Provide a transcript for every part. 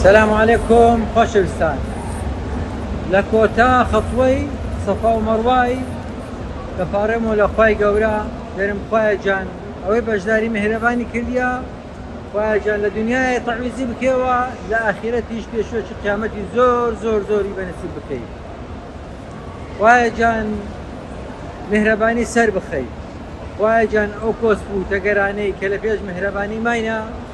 سلام علیکم خۆشەویستان لە کۆتا خەتوەی سەفا و مەڕوای دەپارێمەوە لە خوای گەورە دەرم خوایە جان ئەوەی بەشداری مهرەبانی کردیا خواجان لە دنیای تەعویزی بکەوە لە ئاخیرەتیش پێشوەچی قیامەتی زۆر زۆر زۆری بەنسی بکەیت خواجان مهرەبانی سەر بخەیت خواجان ئەو کۆسپ و تەگەرانەی کە لە پێش مهرەبانی ماینە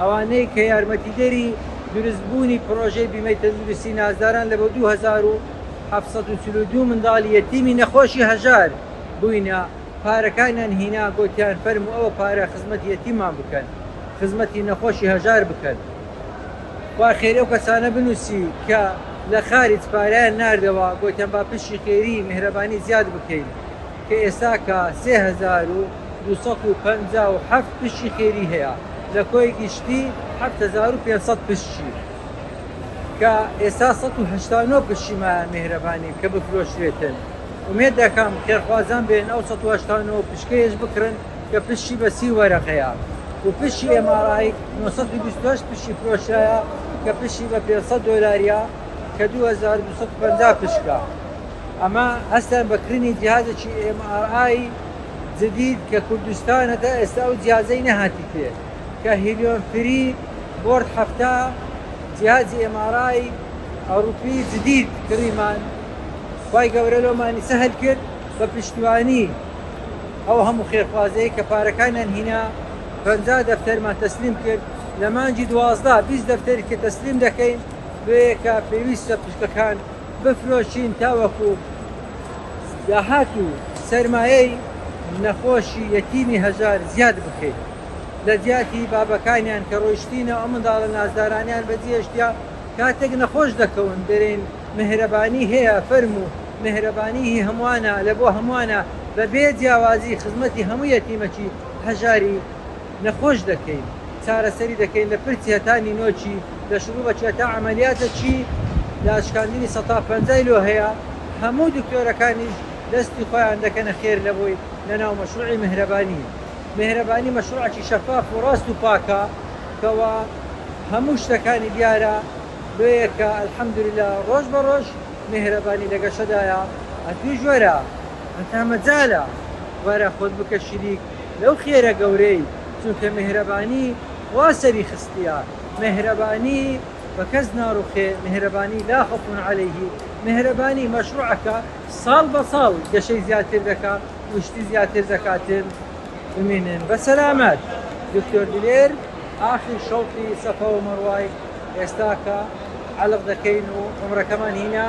ئەوانەی کە یارمەتیدەری دروستبوونی پڕۆژەی بیمەی تەندروستی نازداران لە بۆ دوو هەزار و حەڤت سەد و چل و دوو منداڵی یەتیمی نەخۆشی هەژار بووینە پارەکانیان هینا گۆتیان فەرموو ئەوە پارە خزمەتی یەتیممان بکەن خزمەتی نەخۆشی هەژار بکەن خوا خێری ئەو کەسانە بنووسی کە لە خارج پارەیان ناردەوە گۆتیان با پشی خێری میهرەبانی زیاد بکەین. کە ئێستاکە سێ هەزار و دوو سەد و پەنجا و حەفت پشکی خێری هەیە لە کۆی گشتی حەفت هەزار و پێنج سەد پشکی، کە ئێستا سەد و هەشتا و نۆ پشکی مایە میهرەبانی کە بفرۆشرێتن، ئومێد دەکەم خێرخوازان بێن ئەو سەد و هەشتا و نۆ پشکەیش بکڕن کە پشکی بە سی وەرەقەیە و پشکی ئێم ئاڕ ئای نۆ سەد و بیست و هەشت پشکی فرۆشرایە کە پشکی بە پێنج سەد دۆلاریە کە دوو هەزار و دوو سەد و پەنجا پشکە. ئەمە هەستیان بە کردنی جیهازێکی ئێم ئاڕ ئای جدید کە کوردستان هەتا ئێستا ئەو جیهازەی نەهاتیتێ کە هیلیۆم فری بۆرد حەفتا جیهازی ئێم ئاڕ ئای ئەوڕوپی جدید کڕیمان خوای گەورە لۆمانی سەهل کرد بە پشتیوانی ئەو هەموو خێرخوازەی کە پارەکانیان هینا پەنجا دەفتەرمان تەسلیم کرد لە مانگی دوازدە بیست دەفتەریتێ تەسلیم دەکەین لۆیێکە پێویستە پشکەکان بفرۆشین تاوەکو داهات و سەرمایەی نەخۆشی یەتیمی هەژار زیاد بکەین لە جیاتی بابەکانیان کە ڕۆیشتینە ئەو منداڵە نازدارانەیان بە جێشتیا کاتێک نەخۆش دەکەون دەرێن مهرەبانی هەیە فەرمو مهرەبانی هی هەموانە لە بۆ هەموانە بە بێ جیاوازی خزمەتی هەموو یەتیمەکی هەژاری نەخۆش دەکەین چارەسەری دەکەین لە پرچ هەتا نینۆکی لە شروبەکی هەتا عەمەلیاتەکی داشکاندنی سەتا پەنجای لۆ هەیە هەموو دکتۆرەکانیش دەستی خۆیان دەکەنە خێر لەوەی لەناو مەشروعی مهرەبانی مهرەبانی مەشروعەکی شەفاف و ڕاست و پاکە کەوا هەموو شتەکانی دیارە لۆیە کە الحمدللە ڕۆژ بە ڕۆژ مهرەبانی لە گەشەدایە ئەتووش وەرە هەتا مەجالە وەرە خۆت بکە شریک لەو خێرە گەورەی چونکە مێهرەبانی خوا سەری خستیە مێهرەبانی بەکەس ناڕوخێ مێهرەبانی لا خوف علیه مێهرەبانی مەشروعەکە ساڵ بە ساڵ گەشەی زیاتر دەکا و شتی زیاتر دەکاتن بمینن بە سەلامەت دکتۆر دلێر ئاخیر شەوقی سەفا و مەڕوای ئێستاکە عەلق دەکەین و عومرەکەمان هینا